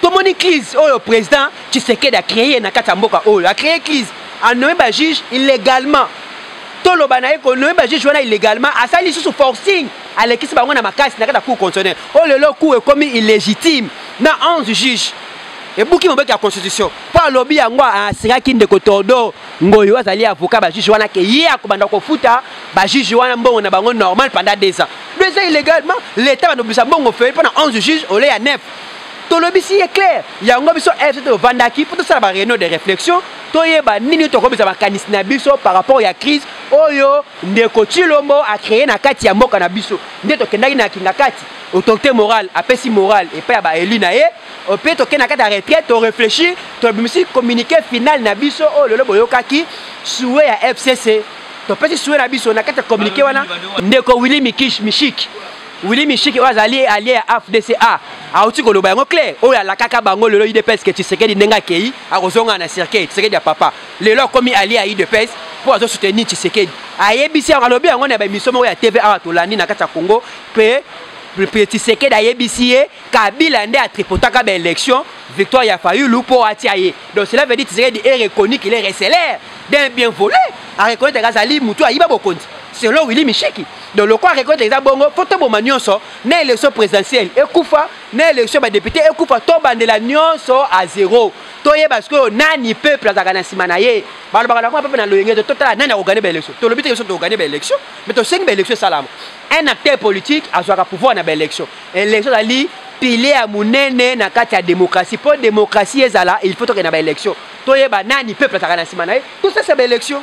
tomoni crise oyo président tshisekedi acreye na kati ya mboka oyo acreye crise anome bajuge illegalement toloba na ye konome bajuge wana illegalement asali lisusu forcing alekisi bango na makasi na kati ya cour constitutionnel oyo lelo cour ekomi illégitime na 11 juge ebuki mobeki ya constitution mpo alobi yango asiraki ndeko tordo ngoyo azali avocat bajuge wana ke ye akobanda kofuta bajuge wana mbongo na bango normal pendant deux ans deux ans illegalement l'état bandobisa mbongo fei mpo na 11 juge ole ya 9 tolobisi ye claire yango biso fct tovandaki mpo tosala bareunion de réflexion toyeba nini tokomisa makanisi na biso par rapport ya crise oyo ndeko chilombo acreye na kati ya mboka na biso nde tokendaki na kingakati autorité morale apesi morale epai ya baelu na ye mpe tokei na kati ya retraite torefléchir tobimisi communiqué final na biso oyo lelo boyokaki sue ya fcc topesi sue na biso na kati ya communiqué wana ndeko willi mikish mishik Willy Mishiki oyo azali allié ya AFDCA auti koloba yango clair oyo alakaka bango lelo UDPS ke Tshisekedi ndenge akei akozonga na circuit Tshisekedi ya papa lelo akomi allié ya UDPS mpo azo soutenir Tshisekedi ayebisi yango alobi yango na baemission moko ya TV awa tolandi na kati ya Congo mpe mpe Tshisekedi ayebisi ye Kabila nde atripotaka ba élection victoire ya Fayulu mpo atia ye donc cela veut dire Tshisekedi est reconnu qu'il est recelaire d'un bien volé areconnaitre azali motu ayiba bokonzi selon Willy Mishiki donc lokola rekote eza bongo mpo toboma nyonso na élection présidentielle ekufa na élection ya badepute ekufa tobandela nyonso a zero toyeba sikoyo nani peuple azalaka na nsima na ye balobaka na kuna peuple na loyenge totala nani akogane baélection tolobi te biso tokogane baélection mais tosengi baélection esalama un acteur politique azwaka pouvoir na baélection élection ezali pile ya monene na kati ya démocratie mpo démocratie ezala il faut tokende na baélection toyeba nani peuple azalaka na nsima na ye tosesa baélection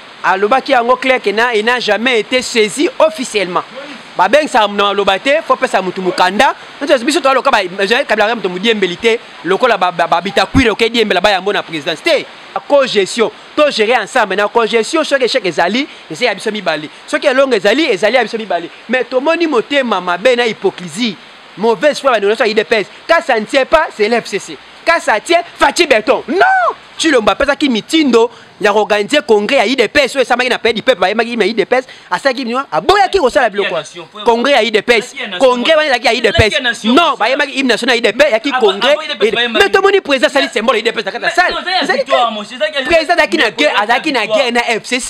alobaki yango clair que na il n'a jamais été saisi officiellement babengisaka moto na maloba te fo pesa motu mokanda biso toaloka kabilaka moto modiembeli te lokola babitakwire oke diembela bayambo na présidence te cogestion to gérer ensemble na cogestion soki échec ezali eza ya biso mibale soki elongo ezali ezali ya biso mibale mais tomoni motema mabe na hypocrisie mauvaise foi bandeko nyonso ya idps ka ça ne tient pas c'est l'fcc ka ça tient faci beton non tshilombo apesaki mitindo ya koorganize congrès ya idps oyo esamaki na pays du peuple bayembaki na idps asalaki bino aboyaki kosala biloko congrès ya idps congrès wana ezalaki ya idps non bayembaki hymne national ya idp yaki congrès me tomoni président asali symbole ya idps na kati ya sale président azalaki na guerre azalaki na guerre na fcc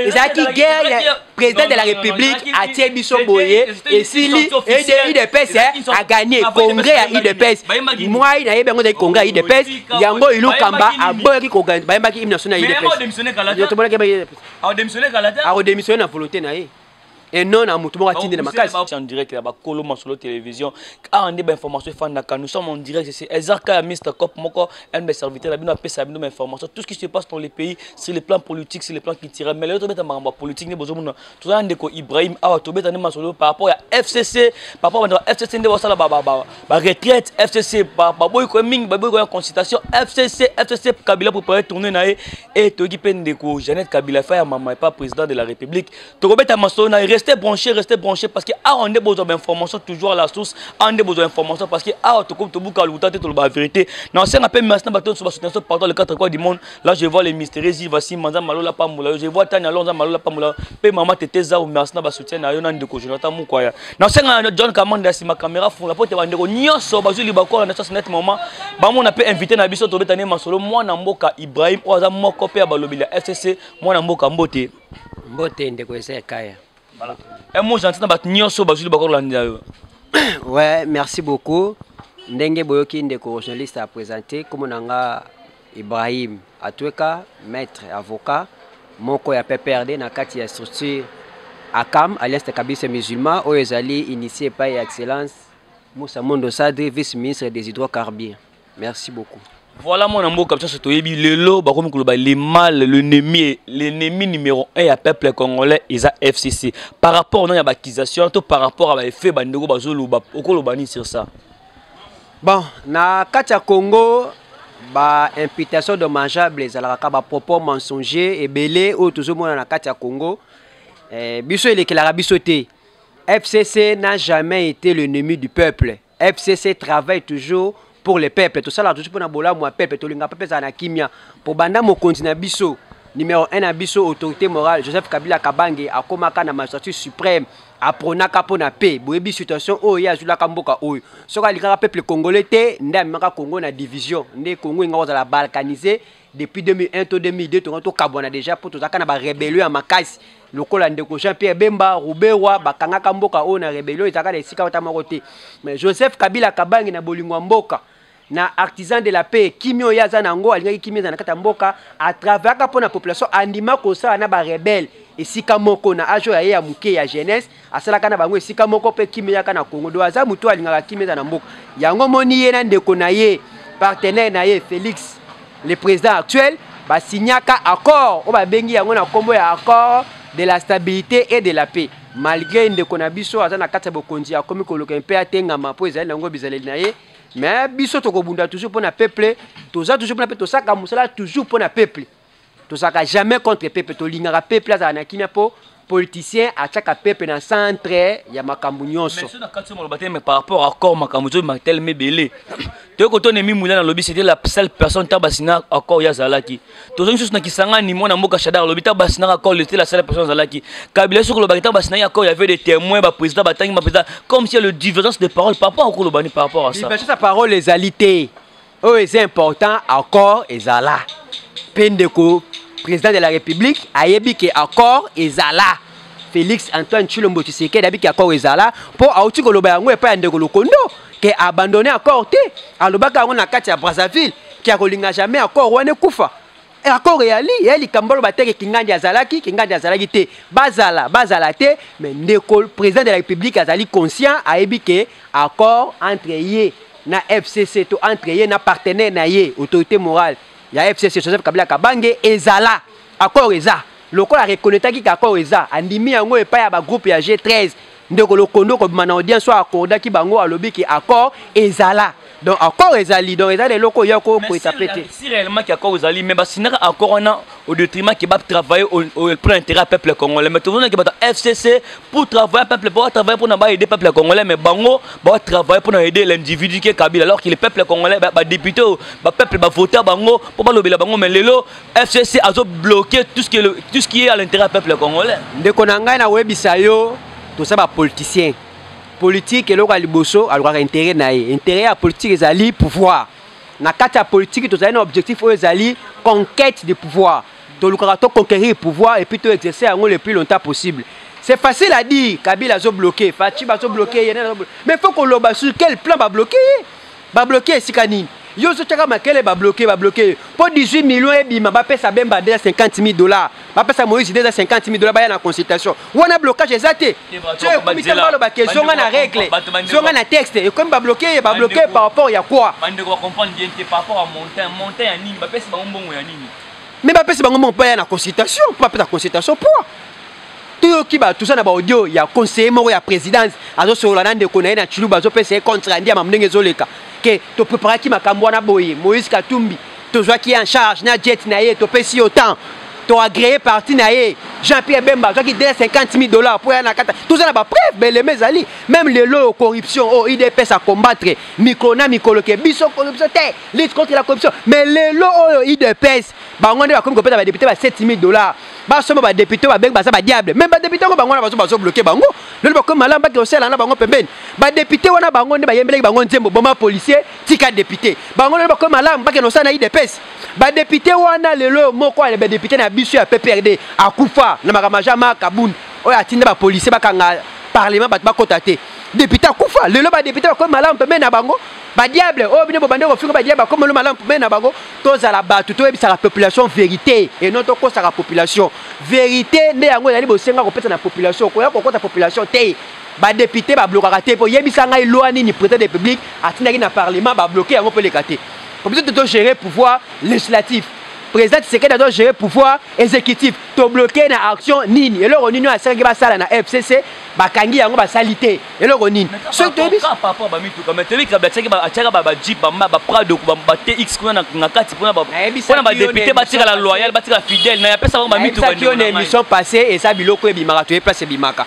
ezalaki guerre président de la république atie biso boye esili udps aganye congrès ya udps mwai nayebi yango ezali congrès ya udps yango ilukamba aboyaki bayembaki hymne national ya udpsakodemissionne na volonté na ye et non na motu moko atindi na makasi en direct ya bakolo masolo télévision awa nde bainformation efandaka nous sommes en direct ezaka ya mr cop moko un de mes serviteurs là bino apesa bino information tout ce qui se passe dans le pays sur le plan politique sur le plan culturel mais lelo tobeta makambo ya politique nde bozomona toza na ndeko ibrahim awa tobeta nde masolo par rapport ya fcc par rapport bandeko ya fcc nde basala baretraite fcc baboyi koya mingi baboyi koya consultation fcc fcc kabila préparé tourne na ye e toyoki mpe ndeko jeannette kabila fa ya mama epa président de la république tokobeta masolo na reste branché reste branché parce que awa nde bozwa bainformation toujours à la source awa nde bozwa information parce que awa tokomi tobuka lokuta te toloba vérité na osenga mpe merci na bato nyonso basoutenir so pardon le quatre coin du monde là je vois les mystérieux ziva simba nzambe malola pambola yo je vois tani alors nzambe malola pambola yo mpe mama tete zao merci na basoutien na yo na ndeko jonathan mukwaya na osenga na john kamanda ya nsima caméra fungola mpo te bandeko nyonso bazwi libakola na sasnet moment bamona mpe invité na biso tobeta nde masolo mwana mboka ibrahim oyo aza moko mpe ya balobi ya fcc mwana mboka mbote mbote ndeko esa ya kaya voilà. un mot gentil na bato nyonso bazwili bakolandela yo ouais merci beaucoup ndenge boyoki ndeko journaliste a présente komo na nga ibrahim atweka maître avocat moko ya pprd na kati ya structure akam alliance de kabise musulman oyo ezali initie epai ya excellence musa mondo sadri vice ministre des hydrocarbures merci beaucoup voilà mwana mboka bisaso toyebi lelo bakomi koloba le mal l'ennemi l'ennemi numéro 1 ya peuple congolais eza fcc par rapport na ya baccusation to par rapport ya baeffet bandeko bazoloba okoloba nini sur ça bon na kati ya congo baimputation dommageable ezalaka kaka bapropos mensonger ebele oyo tozomona na kati ya congo eh, biso elekelaka biso te fcc n'a jamais été l'ennemi du peuple fcc travaille toujours pour le peuple tosalaka toujours mpona bolamu ya peuple tolinga peuple ezala na kimia mpo banda mokonzi na biso numéro 1 na biso autorité morale joseph kabila kabange akomaka na magistrature suprême apronaka mpo na pe boyebi situation oyo ye azwilaka mboka oyo soki alingaka peuple congolais te nde amemaka congo na division nde congo enga kozala balkanise depuis 2001 to 2002 tonga tokabwana deja mpo tozalaka na barebelio ya makasi lokola ndeko jean pierre bemba ruberwa bakangaka mboka oyo na rebelio ezalaka na esika ata moko te mais joseph kabila kabangi na bolingo ya mboka na artisan de la paix kimi oyo ye aza na yango alingaki kimi eza na kati ya mboka atraveraka mpo na population andima kosala na barebele esika moko na age oyo ya ye ya moke ya jeunesse asalaka na bango esika moko mpe kimia eyaka na congo do aza motu alingaka kimia eza na mboka yango moni ye na ndeko na ye partenaire na ye félix le président actuel basignaka accord oyo babengi yango na nkombo ya accord de la stabilité et de la paix malgré ndeko na biso aza na kati ya bokonzi akomi koluka mpe atengama mpo ezali na yango bizaleli na ye mais biso tokobunda toujours mpo na peuple toza toujours mpo na mpe tosaka mosala toujours mpo na peuple tozalaka jamais contre peuple tolingaka peuple azala na kimia mpo politicien atiaka peuple na centre ya makambo nyonso par rapport accord makambo ezobi matelema ebele toyei kotona emi mulana alobi c'était la seule personne ntango basina accord ye azalaki tozongi susu na kisangani mwana mboka shadar alobi ntango basinaka accord lete la seule personne azalaki kabila ye soki olobaki ntango basinaki accord yavait des témoins baprésident batangi baprésident comme si le divergence de parole par rapport akolobani par rapport à ça divergence ya parole ezali te oyo eza important accord ezala mpe ndeko président de la république ayebi ke accord ezala félix antoine tshilombo tshisekedi ayebi ke accord ezala mpo auti koloba yango epai ya ndeko lokondo ke abandonne accord te alobaka yango na kati ya brazzaville ke akolinga jamais accord wana ekufa Accord eyali ya likambo baloba te ke Kingandi azalaki, Kingandi azalaki te. Bazala, bazala te, mais ndeko président de la République azali conscient ayebi ke accord entre ye na FCC to entre ye na partenaire na ye autorité morale ya FCC Joseph Kabila Kabange ezala accord eza lokola reconnaitaki ke accord eza andimi yango epai ya ba groupe ya G13 ndeko lokondo kobima na audience oyo akordaki bango alobi ke accord ezala donc accord ezali donc ezali eloko oyo kokweta pe te si réellement ke accord ezali mais basindaka accord wana au détriment ke batravaille pour l'intérêt ya peuple congolais mais tozonaki bato ya fcc pour travailler peuple po batravaille mpona baaider peuple ya congolais mais bango batravaille mpona aider l'individu ke kabila alors que le peuple congolais badepute oyo bapeuple bavota bango mpo balobela bango mais lelo FCC azo bloquer tout ce qui est, le, tout ce qui est à l'intérêt du peuple congolais. Ndeko na ngai na webisa yo toza ba politiciens. Politique eloko ya liboso alukaka intérêt na ye. Intérêt ya politique ezali pouvoir. Na kati ya politique tozali na objectif oyo ezali conquête du pouvoir. Tolukaka to conquérir pouvoir et puis to exercer yango le plus longtemps possible. C'est facile à dire, Kabila azo bloquer, Fatshi azo bloquer, mais faut qu'on loba sur quel plan va bloquer. Ba bloquer esika nini? Yo ozo chaka makele ba bloquer ba bloquer po 18 millions ebima ba pesa Bemba 250000 dollars. Ba pesa Moïse 250000 dollars ba ya na consultation. Wana blocage eza te. Ce ekomi te mbalo ba ke zonga na règle. Zonga na texte ekomi ba bloquer ba bloquer par rapport ya quoi? Ba ndeko ba comprendre bien te par rapport à montant montant ya nini ba pesa ba mbongo ya nini? Mais ba pesa ba mbongo pa ya na consultation, pa pesa consultation pour toyoki bato toza na baaudio ya conseiller moko ya présidence azosolola na ndeko na ye na chiluba azopesa ye contre andi ya mamu ndenge ezoleka ke topreparaki makambo wana boye moïse katumbi tozwaki ye en charge na jet na ye topesi yo temps toagreye parti na ye jean pierre bemba azwaki 250 000 dollars mpo ya na kata toza na bapreuve beleme ezali meme lelo oyo corruption oyo oh, idps acombattre mikolo na mikolo ke biso corruption te lutte contre la corruption mais lelo oyo idps bango nde bakomi kopesa badepute ba 7 000 dollars basomba ba député ba bengi baza ba diable même ba député ngo bango na bazo bazo bloquer bango lelo bakomi malamu baki osela na bango pembeni ba député wana bango nde bayembelaki bango nzembo boma policier tika député bango lelo bakomi malamu baki osela na IDPS ba député wana lelo moko ya ba député na biso ya PPRD akufa na makambo ja maka bun oyo atinda ba policier bakanga parlement bato bakota te député akufa lelo ba député bakomi malamu pembeni na bango ba diable oyo bino bobandi kofinga ba diable bakomi malamu pembeni na bango tozala bato toyebisaka population verité et non tokosaka population verité nde yango ezali bosenga kopesa na population koya kokosa population te badepute bablokaka te mpo yebisa ngai loi nini président de république atindaki na parlement babloke yango mpo eleka te po biso tozogere pouvoir législatif président tisekedi azogere pouvoir exécutif tobloke na action nini eloko nini oyo asalaki basala na fcc bakangi yango basali te eloko nini soki toyebiatiaka bajip baprado batx kuna na kati mpona badepute batikala loyal batikala fidèle naye apesa bango bamituki yo na émission passé eza biloko ebimaka toye place ebimaka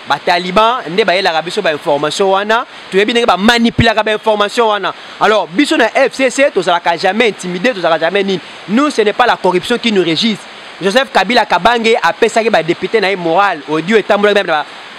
bataliban nde bayelaka biso bainformation wana toyebi ndenge bamanipulaka bainformation wana alors biso na fcc tozalaka jamais intimidé tozalaka jamais nini nous ce n'est pas la corruption qui nous régisse joseph kabila kabange apesaki badepute na ye moral audio etambolaki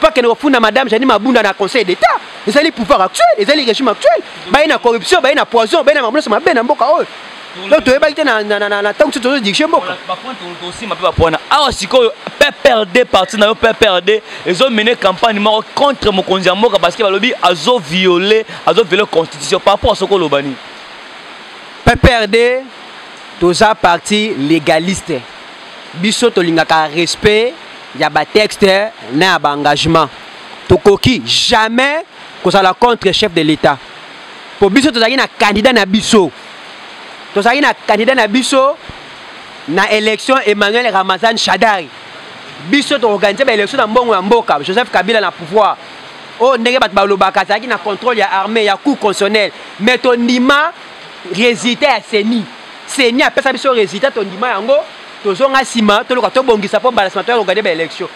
Pas que funda madame Janine Mabunda na conseil d'état. Ils allaient pouvoir actuel, ils allaient régime actuel. Bah na corruption, bah na poison, bah na mambo sur ma belle mboka oh. Donc tu es baïté na na na na tango tu te dis chez mboka. Ba point on aussi ma pas point. Ah sikoyo PPRD parti na yo PPRD, ils ont mené campagne mort contre Mokonzi mboka parce que ba lobi azo violer, azo violer constitution par rapport à ce que lobani. PPRD toza parti légaliste. Biso tolingaka respect ya ba texte na ya ba engagement tokoki jamais kozala contre chef de l'état mpo biso tozalaki na candidat na biso tozalaki na candidat na biso na élection emmanuel ramazan shadari biso toorganize baélection na mbongo ya mboka joseph kabila na pouvoir oyo oh, ndenge bato balobaka azalaki na contrôle ya armée ya cour constitutionnel mais tondima résultat ya seni seni apesa biso résultat tondima yango tozonga nsima toluka tobongisa mpo mbala nsima toya kogade baélection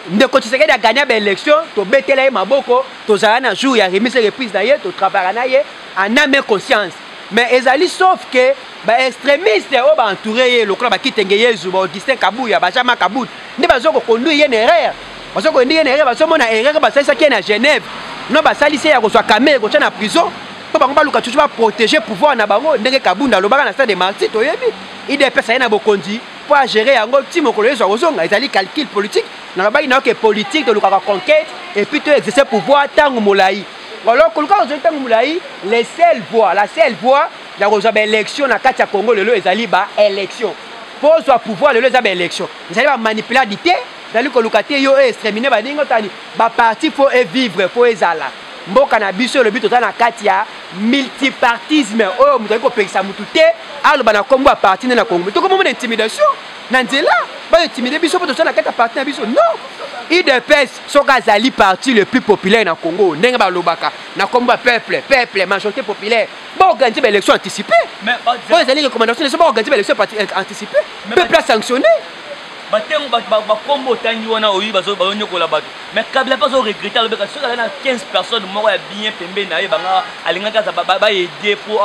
ndeko tshisekedi agagna baélection tobetela ye maboko tozala na jour ya remise reprise na ye totravaka na ye en ame conscience mais ezali sauf ke baextrémiste oyo baentoure ye lokola bakitenge yezu baaugustin kabuya bajama kabut nde bazo koconduire ye na erreur bazo koendi ye na erreur bazomona erreur basalisaki ye na genève no basalisi ye ya kozwa kamere kotya na prison mpo bango baluka tutu baprotege pouvoir na bango ndenge kabunda alobaka na stade de marti toyebi idps aye na bokonzi mpo agere yango ti mokolo yesu akozonga ezali calcul politique nalobaki nayoke politique tolukaka conquête epuis to exerce pouvoir ntango molai alors koluka kozongi ntango molai le seul voie la seule voie ya kozwa baélection na kati ya congo lelo ezali baélection mpo ozwa pouvoir lelo eza baélection ezali bamanipuladi te ezali koluka te yo e extremine baninga otani baparti mpo evivre mpo ezala mboka na biso elobi toza na kati ya multipartisme oyo moto akoki kopekisa motu te aloba na nkombo ya parti nde na kongo tokomomona intimidation na nzela bayo intimide biso mpo toza na kati ya parti na biso non udps soki azali parti le plus populaire na congo ndenge balobaka na nkombo ya peuple peuple majorité populaire baorganize baélection anticipe oyo ezali recommandation leso baorganize baélection euh, anticipe peuple asanctionne batengo bakombo otangi wana oyi bazonyokola bato mais kabila mpe azo regrete alobeka soki azali na 15 personnes moko ya bien pembeni na ye banga alingaki aza baede mpo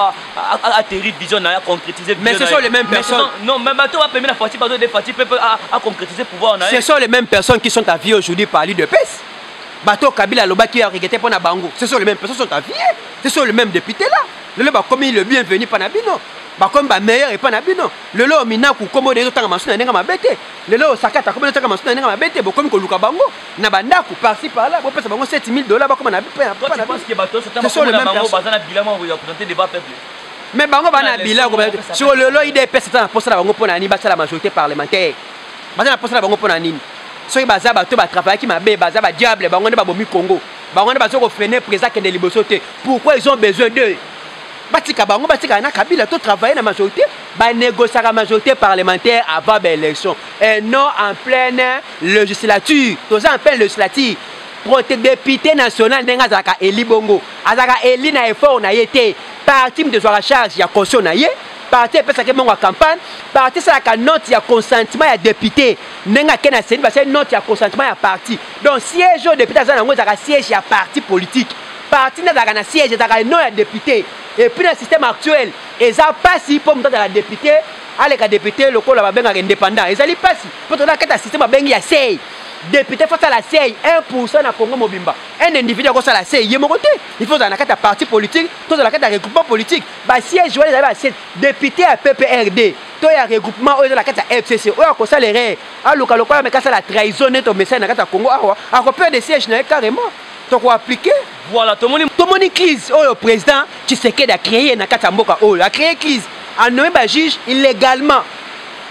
aterri vision na ye aconcrétise mais ce sont les mêmes personnes non mais bato bapembe na fati bazo de fati mpe aconcrétise pouvoir na ye ce sont les mêmes personnes qui sont à vie aujourd'hui par lui de pes bato kabila alobaki aregrete mpo na bango ce sont les mêmes personnes sont à vie ce sont les mêmes députés là lelo bakomi le bienvenu mpo na bino bakomi bameilleur epai na bino lelo minaku nkombo na ezotanga masu na ndenge mabe te lelo oyo sakata akomi notaka masuna ndenge mabe te bokomi koluka bango na bandako parci par là bopesa bango 7000 dollars bakoma na mais bango bana bila siko lelo idps eza na mposa na bango mpo na nini basala majorité parlementaire baza na mposa na bango mpo na nini soki baza bato batravaillaki mabe baza badiable bango nde babomi congo bango nde baza kofrene présa kende liboso te pourquoi ils ont besoin d'eux batika bango batikala na kabila to travaille na majorité ba négociaka majorité parlementaire avant ba élection et non en pleine législature toza en pleine législature prote député national ndenge azalaka eli bongo azalaka eli na effort na ye te parti moto ezwaka charge ya caution na ye parti epesaki mbongo ya campagne parti esalaka note ya consentiment ya député ndenge ake na seni basali note ya consentiment ya parti donc siège oyo député aza na yango ezalaka siège ya parti politique parti nde azalaka na siège ezalaka non ya député epuis na système actuel eza pasi po moto azala depute aleka depute lokola babengaka independant ezali pasi po tozala kati ya systeme babengi ya sei depute fo asala sei 1 pourcent na congo mobimba un individu akosala sei ye moko te il faut ozala na kati ya parti politique to ozala kati ya regroupement politique basiège wana ezali basiège depute ya pprd to ya regroupement oyo eza na kati ya fcc oyo akosala erreur aluka lokola meka asala trahison neti omesani na kati ya congo awa akoperde siège na ye carrément toko appliquer voilà tomoni tomoni crise oyo président Tshisekedi a créé na kati ya mboka oyo a créé crise a nommé ba juge illégalement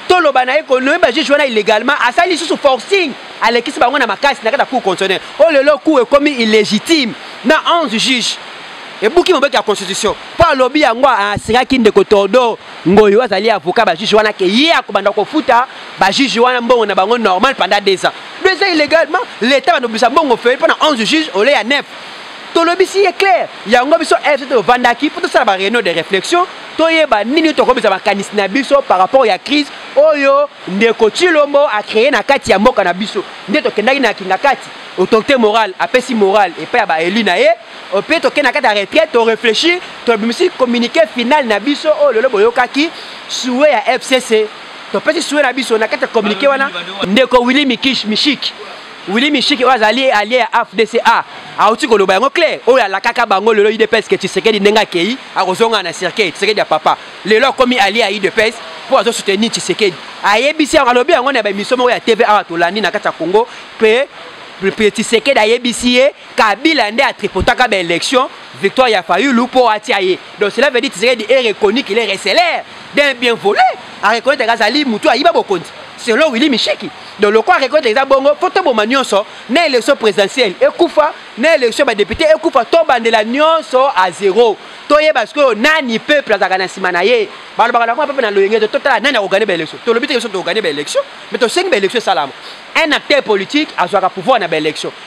toloba na ye ko nommé ba juge wana illégalement asali lisusu forcing alekisi bango na makasi na kati ya cour constitutionnelle oyo oh, lelo cour ekomi illégitime na 11 juge ebuki mobeki ya constitution mpo alobi yango asengaki ndeko tordo ngoyo azali avocat ba juge wana ke ye akobanda kofuta ba juge wana mbongo na bango normal pendant deux ans do eza illégalement l'état banobisa mbongo fei mpo na 11 juge ole ya 9 tolobisi ye claire yango biso fct ovandaki mpo tosala ba réunion de réflexion toyeba nini tokobisa makanisi na biso par rapport ya crise oyo ndeko chilombo acreye na kati ya mboka na biso nde tokendaki na kingakati autorité morale apesi morale epai ya baeli na ye mpe tokei na kati ya retraite toreflechir tobimisi communiqué final na biso oyo oh, lelo boyokaki sue ya fcc topesi sue na biso na kati ya communiqué wana ndeko willi mikish mishiki willi mishiki oyo azali alie ya afdca auti koloba yango claire oyo alakaka bango lelo idps ke tshisekedi ndenge akei akozonga na cercueil tshisekedi ya papa lelo akomi alie ya idps mpo azosoutenir tshisekedi ayebisi yango alobi yango na baemission moko ya tv awa tolandi na kati ya congo mpe tshisekedi ayebisi ye kabila nde atripotaka ba élection victoire ya fayulu mpo atia ye donc cela veut dire tisekedi est reconnu qu'il est recelaire d'un bien volé areconnaitre azali motu ayiba bokonzi selon willi mishiki donc lokola areconnaitre eza bongo mpo toboma nyonso na élection présidentielle ekufa na élection badepute ekufa tobandela nyonso a zéro toyeba sikoyo nani peuple azalaka na nsima na ye balobaka na kuna peuple na loyenge te totala nani akogane baélection tolobi te biso tokogane baélection mais tosengi baélection esalama un acteur politique azwaka pouvoir na baélection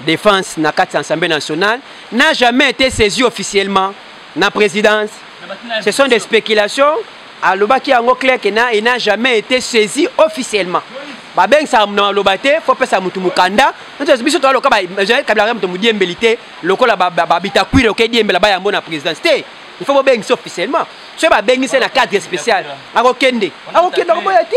defense na kati ya ensemble nationale n'a jamais été saisi officiellement na présidence ce sont des spéculations alobaki yango clair que na il n'a jamais été saisi officiellement babengisaka moto na maloba te fo pesa motu mokanda biso toya loka kabila kaka moto modiembeli te lokola babitakwire oke diembela bayambo na présidence te il faut bobengisa officiellement soki babengisi na cadre spécial akokende akokende akoboya te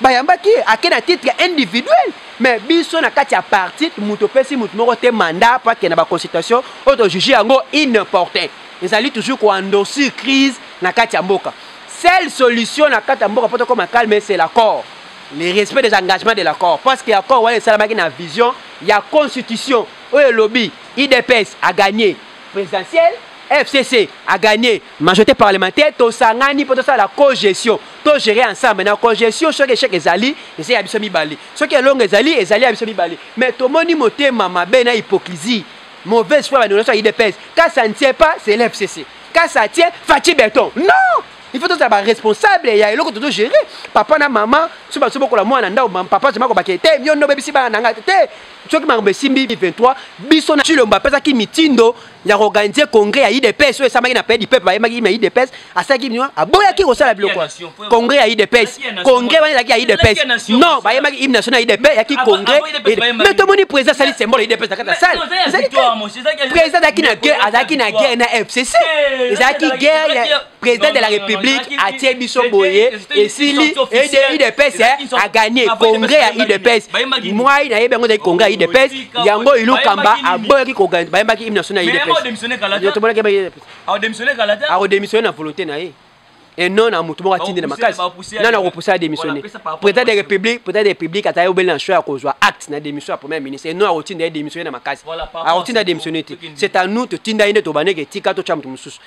bayambaki ye ake na titre ya individuel me biso na kati ya parti moto opesi moto moko te mandat mpo akende baconsultation oyo tojuge yango inimportin ezali toujours koendosir crise na kati ya mboka seule solution na kati ya mboka mpo tokoma calme c'est l'accord le respect des engagements de l'accord parce que accord wana esalamaki na vision ya constitution oyo elobi idps agagné présidentielle fcc agagné majorité parlementaire tosangani mpo tosala cogestion to gérer ensemble na cogestion soki échec ezali eza ya biso mibale soki elongo ezali ezali ya biso mibale mais tomoni motema mabe na hypocrisie mauvaise foi banonaso ya idps ka ça ne tient pas c'est l'fcc ka ça tient faci beton non il faut tozala baresponsable ya eloko tozo gérer papa na mama so baso bokola mwana na ndao papa azoma kobake te yo nde obebisi bana na ngai te soki makambo esimbi 23 biso na cilombo apesaki mitindo ya koorganize congrès ya idps oyo esamaki na pays du peuple bayembaki na idps asalaki bino aboyaki kosala biloko congrès ya idps congrès wana ezalaki ya idps non bayembaki hymne national ya idp yaki congrès me tomoni président asali symbole ya idps na kati ya sale président azalaki na guerre azalaki na guerre na fcc ezalaki guerre président de la république atie biso boye esili udps aganie congrès ya udps mwai nayebi yango ezalaki congrès ya udps yango ilukamba aboyaki bayembaki hymne national ya udpsakodemissione na volonté na ye et non na motu moko atindi na makasi nani akopusa ya démissionne président de république président de république atali obele na choix ya kozwa acte na démission ya premier ministre et non akotinda ye démissionne na makasi akotinda démissionne te c'est à nous totinda ye nde tobandeke etika totya moto mosusu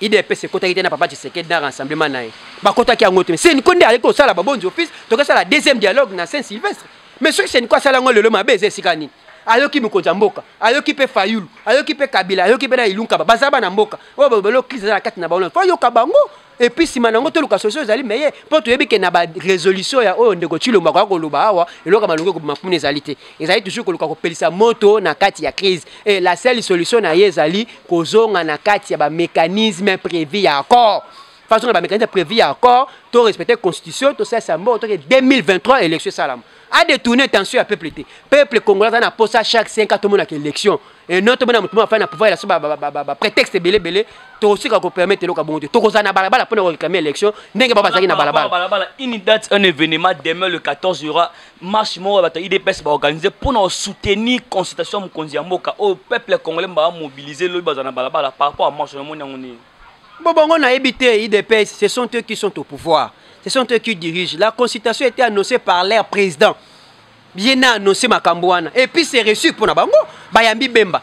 idps ekotaki te na papa tshisekedi na rassemblement na ye bakotaki yango te seniko nde ayeki kosala babonzi office tokesala deuxième dialogue na saint sylvestre mais soki seniko asala yango lelo mabe eza esika nini ayoki mokonzi ya mboka ayoki mpe fayulu ayoki mpe kabila ayoki mpe na ilunkaba baza bana mboka oyo babelo crise eza na kati na bango fo ayoka bango epuis nsima na yango toluka solution ezali meye mpo toyebi ke na barésolution ya oyo ndeko cilombo akoya koloba awa eloko malongi ekobima kuna ezali te ezali toujours koluka kopelisa moto na kati ya crise e la seule solution na ye ezali kozonga na kati ya bamécanisme prévu ya accord façon na bamécanisme prévu ya accord to respecte constitution tosalisa mbongo toke 2023 élection esalama adetourne tension ya peuple te peuple congolais aza na posa chaque 5 ans tomonaka élection e non tomona moto moko afai na pouvoir elaso baprétexte ebele ebele tokosika kopermettre eloko ya bongo te tokozala na balabala mpo na koreklame élection ndenge bao bazalaki na balabala une date un événement demain le 14 aura marche moko ya bato ya idps baorganize mpo na kosoutenir consultation ya mokonzi ya mboka oyo peuple congolais mba bamobilize lobi bazala na balabala par rapport ya marche namoni yango nini bo bango nayebi te idps ce sont eux qui sont au pouvoir ce sont eux qui dirigent la consultation était annoncée par leur président ye na annonce makambo wana et puis c'est reçu mpo na bango bayambi bemba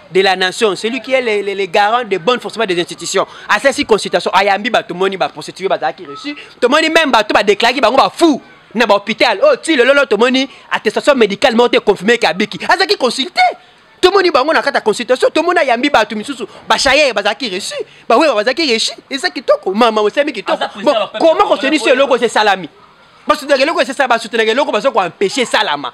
de la nation, celui qui est le, le, le garant de bonne fonctionnement des institutions. À cette consultation, ayambi ba tout moni ba prostitué ba qui reçu, tout moni même ba tout ba déclaré ba ba fou na ba hôpital. Oh tu le lolo tout moni attestation médicale monte confirmé que abiki. À cette consulté tout moni bango na kata consultation, tout moni ayambi ba tout misusu ba chayer ba qui reçu, ba ouais ba qui reçu. Et ça qui toko maman osemi qui toko. Bon, comment qu'on se dit ce logo c'est salami. Parce que le logo c'est ça ba soutenir le logo parce qu'on empêcher salama.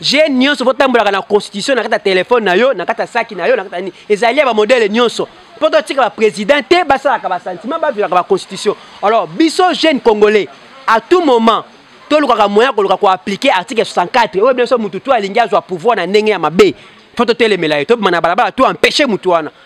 je nyonso botambolaka na constitution na kati ya telefone na yo na kati ya saki na yo na kati ya nini ezali ya bamodele nyonso mpo totika baprésident te basalaka basentiment baviolaka baconstitution alors biso jeune congolais à tout moment tolukaka moyen koluka koaplike article 64 oyo biso motu to alingi azwa pouvoir na ndenge ya mabe fo totelemela ye tobima na balabala to empêche motu wana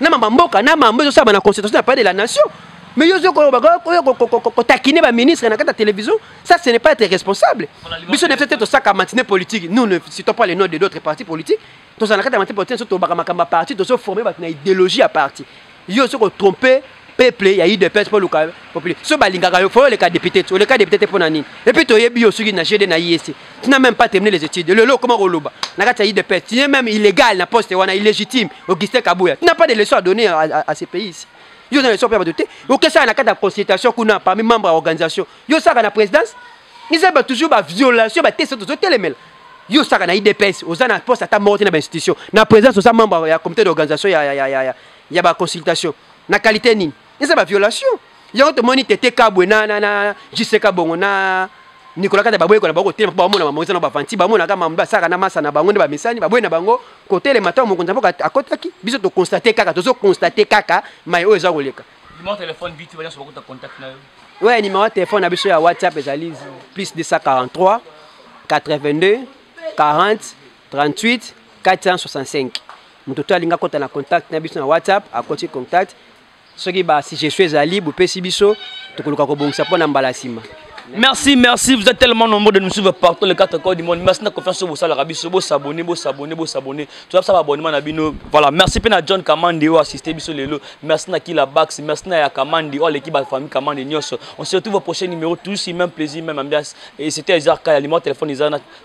na mama mboka na mambo ezosalama na constitution ya palais de la nation mais yo ozokotakine baministre na kati ya télévision ça ce n'est pas être responsable biso nefse te tosaka matine politique nous ne citons pas les noms de d'autres partis politiques tozala na kati ya matine politique so tobaka makambo ya parti tozoforme bato na idéologie ya parti yo ozokotrompe peuple ya udps mpo oluka populaire so balingaka yo fo oleka député te oleka député te mpo na nini epuis toyebi yo soki na gd na iec tu n'as même pas terminé les études lelo okoma koloba na kati ya udps tu n'es même illégal na poste wana illégitime augustin kabuya tu n'as pas de leçon à donner à, à, à ce pays ici yo na leçon mpe ya bato te okesaka na kati ya consultation kuna parmi membre ya organisation yo osaka na présidence eza ba toujours ba violation ba teste tozotelemela yo osaka na idps oza na poste ata moko te na bainstitution na présidence oza membre ya comité d'organisation ya, ya, ya, ya, ya, ya baconsultation na qualité nini eza ba violation yango tomoni tete kabwe na na na jiseka bongo na nikola kata baboye kona bako telema bamona mamongo eza na bavanti bamonaka mambo basaka na masa na bango nde bamesani baboye na bango kotelema ntango mokonzi mboka akotaki biso tokonstate kaka tozo konstate kaka mai oyo eza koleka oyo nimero ya telefone na biso ya whatsapp ezali plus 243 82 40 38 465 moto to alingi akɔta na contact na biso na whatsapp akoti contact soki basuggestion ezali bopesi biso tokoluka kobongisa mpo na mbala nsima Merci, merci. Vous êtes tellement nombreux de nous suivre partout les quatre coins du monde. Merci de confiance sur vous. Salut, Rabbi, vous s'abonnez, vous s'abonnez, vous s'abonnez. Tu vas savoir abonnement à Bino. Voilà. Merci à John Kamandi, ou assisté Bisso Lelo. Merci à Kila Bax, merci à Kamandi, ou l'équipe de la famille Kamandi Nyos. On se retrouve au prochain numéro. Tous si même plaisir, même ambiance. Et c'était Ezarka, il y a le téléphone Ezarka.